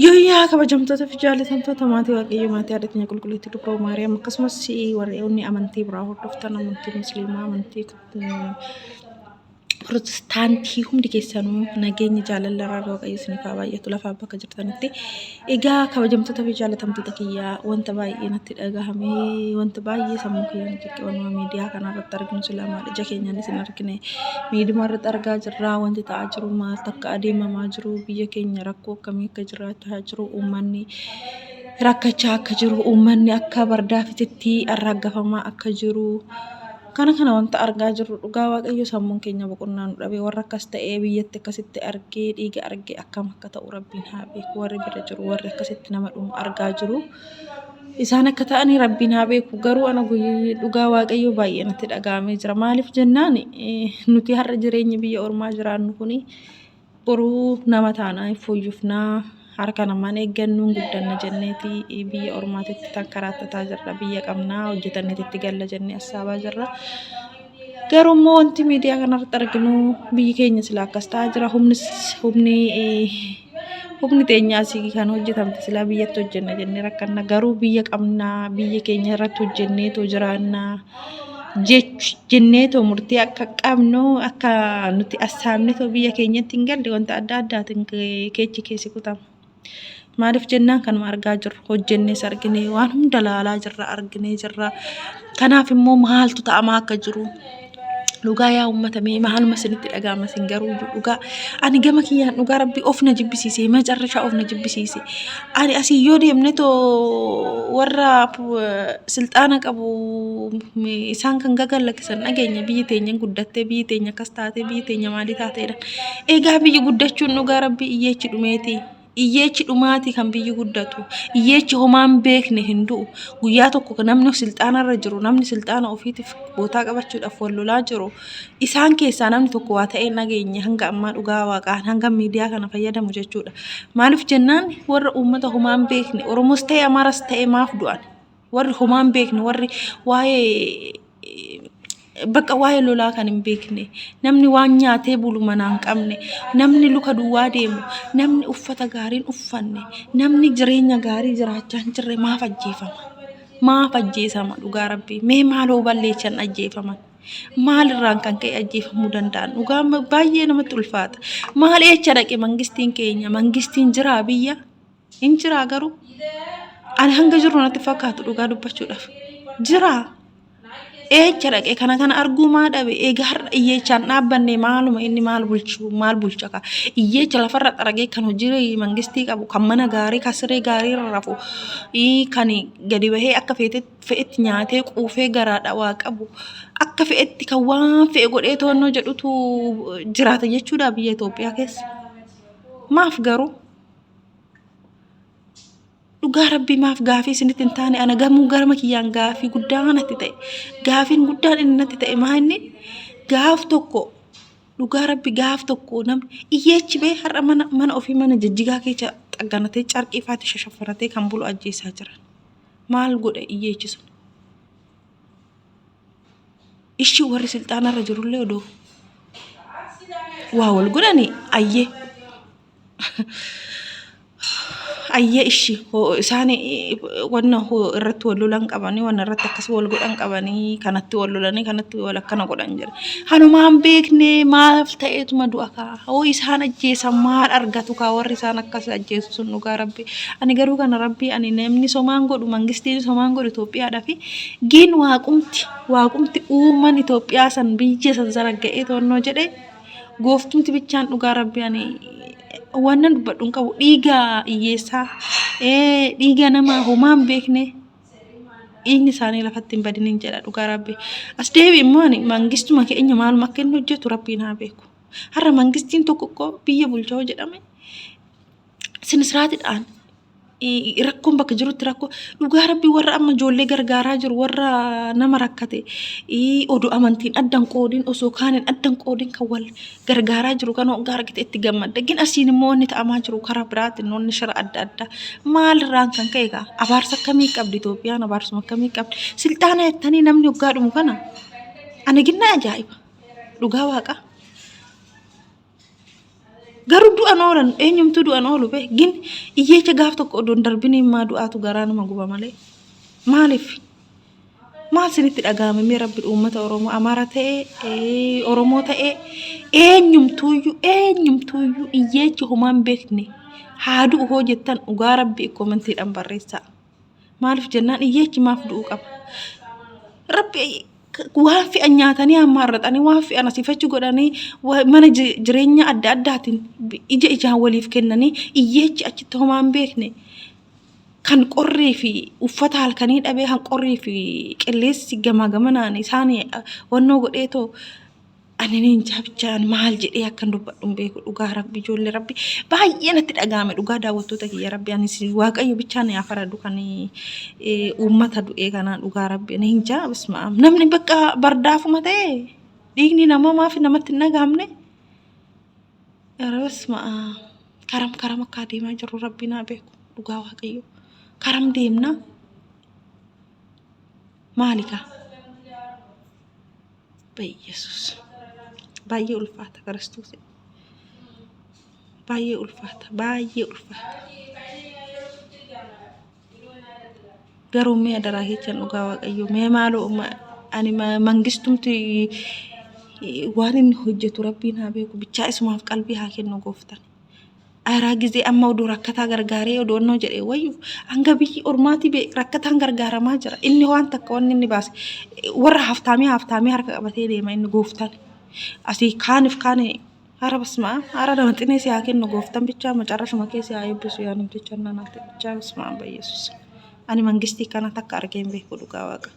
Yooyyaa kabajamtoota fi jaalatamtoota maatii waaqayyo maatii haadha keenya qulqulleetti dubroo maariyaam akkasumas warri amantii biraa hordoftan amantii musliimaa amantii Pirotestaantii hundi keessanuu nageenyi jaalala irraa waaqayyo isiniif haa baay'atu lafaa bakka jirtanitti. Egaa kabajamtoota fi jaalatamtoota kiyyaa wanta baay'ee natti dhagahame wanta baay'ee sammuu kiyyaa na ciqqe wanuma miidiyaa kana irratti arginu silaa maal ija keenyaan isin argine miiduma irratti argaa jirra wanti ta'aa jiru maal takka adeemamaa jiru biyya keenya rakkoo akkamii akka jiraachaa jiru uummanni rakkachaa akka jiru uummanni akka bardaafititti arraaggafamaa akka jiru Kana kana wanta argaa jirru dhugaa waaqayyo sammuun keenya boqonnaa nu dhabe warra akkas ta'ee biyyatti akkasitti argee dhiiga arge akkam akka ta'u rabbiin haa beeku warri bira jiru warri akkasitti nama dhumu argaa jiru isaan akka ta'anii rabbiin haa beeku garuu ana guyy- dhugaa waaqayyo baay'ee natti dhaga'amee jira maaliif jennaan eh, nuti har'a jireenyi biyya ormaa jiraannu kuni Boruu nama taanaa hin fooyyofnaa harka namaan eeggannuun guddanna jenneeti biyya ormaatitti tan karaattataa jirra biyya qabnaa hojjetanneeti itti galla jennee assaabaa jirra. Garuu immoo wanti miidiyaa kanarratti arginu biyyi keenya sila akkas ta'aa jira humnis humni humni teenyaas kan hojjetamte silaa biyyatti hojjenna jennee rakkanna garuu biyya qabnaa biyya keenya irratti hojjenneetu jiraannaa. jenneetoo murtii akka qabnu akka nuti assaabnetoo biyya keenyatti hin galle wanta adda addaatiin keechi keessi kutama. Maaliif jennaan kanuma argaa jirru hojjennees arginee waan hunda laalaa jirra arginee jirra. Kanaaf immoo maaltu ta'amaa akka jiru dhugaa yaa uummata mee maaluma isinitti dhaga'ama isin garuu dhugaa ani gama kiyyaan dhugaa rabbii of na jibbisiise macarrashaa of na jibbisiise. ani asii yoo deemne too warra silxaana qabu isaan kan gagallakkisan dhageenya biyyi teenya guddattee biyyi teenya akkas taatee biyyi teenya maalii taateedha. Egaa biyyi guddachuun dhugaa rabbi iyyeechi dhumeeti. Iyyeechi dhumaati kan biyyi guddatu. Iyyeechi homaan beekne hin du'u. Guyyaa tokko namni silxaana irra jiru namni silxaana ofiitiif bootaa qabachuudhaaf wal lolaa jiru. Isaan keessaa namni tokko waa ta'ee hin dhageenye hanga ammaa dhugaa waaqaan hanga miidiyaa kana fayyadamu jechuudha. Maaliif jennaan warra uummata homaa hin beekne Oromoos ta'e Amaaras ta'e maaf du'an? Warri homaa hin beekne warri waa'ee bakka waa'ee lolaa kan hin beekne namni waan nyaatee bulu manaa hin qabne namni luka duwwaa deemu namni uffata gaariin uffanne namni jireenya gaarii jiraachaa hin jirre maaf ajjeefama? Maaf ajjeesama dhugaa rabbii? Mee maaloo balleessan ajjeefaman? maalirraan kan ka'e ajjeefamuu danda'an dhugaa baay'ee namatti ulfaata maal eecha dhaqe mangistiin keenya mangistiin jiraa biyya hin jiraa garuu ani hanga jiru natti fakkaatu dhugaa dubbachuudhaaf jiraa eecha dhaqe kana kana arguu maa dhabe egaa har'a iyyeechaan dhaabbanne maaluma inni maal bulchu maal bulcha ka iyyeecha lafarra xaragee kan hojii mangistii qabu kan mana gaarii kan siree gaarii irra rafu kan gadi bahee akka feetetti fe'etti nyaatee quufee garaa dhawaa qabu akka fe'etti kan waan fe'e godhee to'annoo jedhutu jiraata jechuudha biyya Itoophiyaa keessa. Maaf garuu? Dhugaa rabbii maaf gaafii isinitti hin taane ana gamuu garama kiyyaan gaafii guddaa natti ta'e. Gaafiin guddaan inni natti ta'e maa inni gaaf tokko dhugaa rabbi gaaf tokko namni iyyeechi bee har'a mana mana ofii mana jijjigaa keessa xagganatee carqii faatti shashafaratee kan bulu ajjeesaa jiran. Maal godha iyyeechi sun? Ishii warri silxaanarra jirullee odoo waa wal godhani ayyee ayyee ishii hoo isaan eh, wanna hoo irratti wal lolan qabanii wanna irratti akkas wal godhan qabanii kanatti wal lolanii kanatti wal akkana godhan jira. Hanumaan beeknee maaf ta'eetuma du'a kaa. Hoo isaan ajjeesan maal argatu kaa warri isaan akkas ajjeesu sun dhugaa rabbi ani garuu kana rabbi ani namni somaan godhu mangistiin somaan godhu Itoophiyaadha fi giin waaqumti waaqumti uuman Itoophiyaa san biyya san zaragga'ee to'annoo jedhe gooftumti bichaan dhugaa rabbi ani wannan dubbadhu hin qabu dhiiga hiyyeessaa ee dhiiga nama homaan beekne dhiigni isaanii lafatti hin badiniin jedha dhugaa rabbi as deebi immoo ani mangistuma keenya maaluma akka inni hojjetu rabbiin haa beeku. Har'a mangistiin tokko tokko biyya bulcha yoo jedhame sinisiraatidhaan rakkoon bakka jirutti rakkoo dhugaa rabbii warra amma ijoollee gargaaraa jiru warra nama rakkate oduu amantiin addan qoodiin osoo kaaniin addan qoodiin kan wal gargaaraa jiru kan hoggaa argite itti gammadda gin asiin immoo wanni ta'amaa jiru karaa biraatiin wanni shira adda addaa maalirraan kan ka'e gaa abaarsa akkamii qabdi Itoophiyaan abaarsuma akkamii qabdi silxaana jettanii namni hoggaa dhumu kana ani ginnaa ajaa'iba. dhugaa waaqa garuu du'an oolan eenyumtuu du'an oolu bee gin iyyeecha gaaf tokko odoo hin darbin immaa du'aatu garaa nama guba malee maaliif maal sinitti dhaga'ame mee rabbi uummata oromoo amaara ta'ee ee, oromoo ta'ee eenyumtuuyyuu eenyumtuuyyuu iyyeecha homaan beekne haa du'u hoo jettan dhugaa rabbi komantiidhaan barreessaa. Maaliif jennaan iyyeechi maaf du'uu qaba? Rabbi waan fe'an nyaatanii hammaarratanii waan fe'an asiifachi godhanii mana jireenya adda addaatiin ija ijaan waliif kennanii iyyeechi achitti homaa hin beekne kan qorrii fi uffata halkanii dhabee kan qorrii fi qilleensi gamaa gamanaan isaan wannoo godheetoo Ani ninjaa bichaan maal jedhee akkan dubbadhu hin beeku dhugaa rabbi ijoollee rabbi baay'ee natti dhaga'ame dhugaa daawwattoota kiyya rabbi anis waaqayyo bichaan ni afaradu kan eh, uummata du'ee kanaa dhugaa rabbi ani hinjaa bismaam namni bakka bardaafuma ta'e dhiigni namaa maaf namatti hin dhaga'amne bismaam karam karam akka adeemaa jirru rabbi naa beeku dhugaa waaqayyo karam deemna maali kaa Yesus. Baay'ee ulfaata kiristoos. Baay'ee ulfaata. Baay'ee ulfaata. Garuu mee adaraa jechan dhugaa waaqayyo mee maaloo ani mangistumti waan inni hojjetu rabbiin haa beeku bichaa isumaaf qalbii haa kennu gooftan. Araa gizee amma odoo rakkataa gargaaree odoo innoo jedhee wayyu hanga biyyi ormaatii bee rakkataan gargaaramaa jira inni waan takka wanni inni baase warra haftaamee haftaamee harka qabatee deema inni gooftaan asii kaanif kaan hara basmaa hara nama xinee si haa kennu gooftaan bichaa macarrashuma kee si haa eebbisu yaa namticha nanaati bichaa basmaa bayyesus ani mangistii kana takka argeen beeku dhugaa waaqa.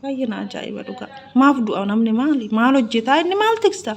Baay'ee na ajaa'iba dhugaa. Maaf du'a namni maali? Maal hojjetaa inni maal tiksta?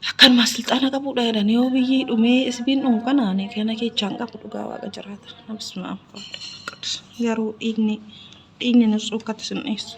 Akkanuma silxaana qabudha jedhanii yoo biyyi dhumee isbiin dhumu kanaan kana keechaan qabu dhugaa waaqa jiraata. Nabsuma amma qabdu. Garuu dhiigni dhiigni nus ukkatti sin dhiyeessu.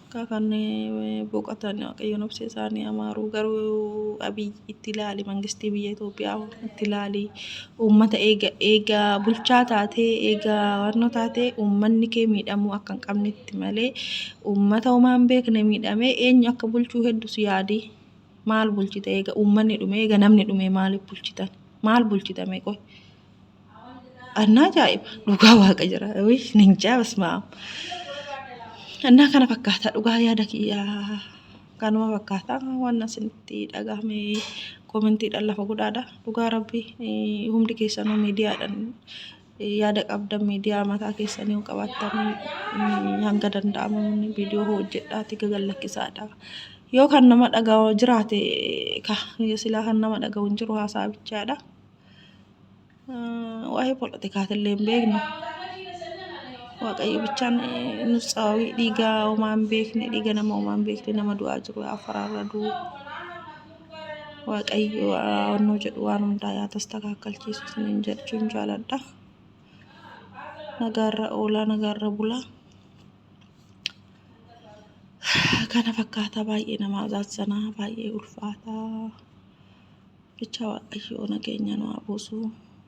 Akka kan boqatan waaqayyo nobsee isaanii amaaruu garuu abiy itti ilaali mangistii biyya Itoophiyaa itti ilaali uummata eega eega bulchaa taatee eega warno taatee uummanni kee miidhamuu akka hin qabnetti malee uummata homaa hin beekne miidhamee eenyu akka bulchuu heddus yaadii maal bulchita eega uummanni dhume eega namni dhume maaliif bulchitan maal bulchitame qoy Annaa ajaa'iba dhugaa waaqa jira. Ninjaa basmaa. Annaa kana fakkaata dhugaa yaada kiyyaa. Kanuma fakkaata waan asinitti dhagahame koomentiidhaan lafa godhaadha. Dhugaa rabbi hundi keessanuu miidiyaadhaan yaada qabdan miidiyaa mataa keessanii yoo qabaattan hanga danda'amu viidiyoo hojjedhaati gagallakkisaadha. Yoo kan nama dhagahu jiraate silaa kan nama dhagahu hin jiru haasaa bichaadha. waa'ee poolitikaatiillee hin beeknu. Waaqayyo bichaan nus sababii dhiiga homaa hin beekne dhiiga nama homaa hin beekne nama du'aa jiru yaa faraarra du'u. Waaqayyo onnoo jedhu waan hundaa yaa tastakaakalchiisu isiniin jechuun jaaladha. Nagaarra oolaa nagaarra bulaa. Kana fakkaata baay'ee nama azaazanaa baay'ee ulfaataa. Bichaa waaqayyoo nageenya nu haa buusu.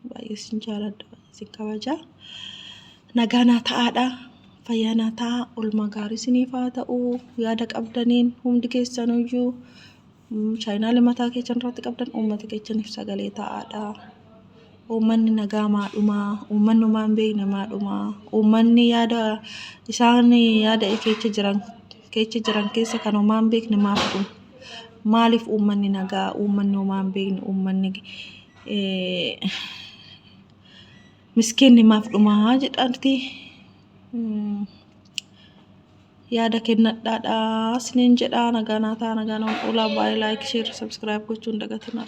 Baay'ee sin jaaladha, baay'ee sin kabaja. Nagaa naa ta'aadha. Fayyaa naa ta'aa. Olmaa gaarii siniif haa ta'u. Yaada qabdaniin hundi keessanuyyuu chaayinaali mataa keessan irratti qabdan uummata keessaniif sagalee ta'aadha. Uummanni nagaa maadhumaa, uummanni homaa hin beekne maadhumaa, uummanni yaada isaan yaada keessa jiran keecha jiran keessa kan homaa hin beekne maaf kun maaliif uummanni nagaa uummanni homaa hin beekne uummanni miskiinni maaf dhumaa jedhanti yaada kennadhaadhaa isiniin jedhaa nagaa naa ta'a nagaa naa oolaa baay'ee laayik sheer sabskiraayib gochuun dagatinaa.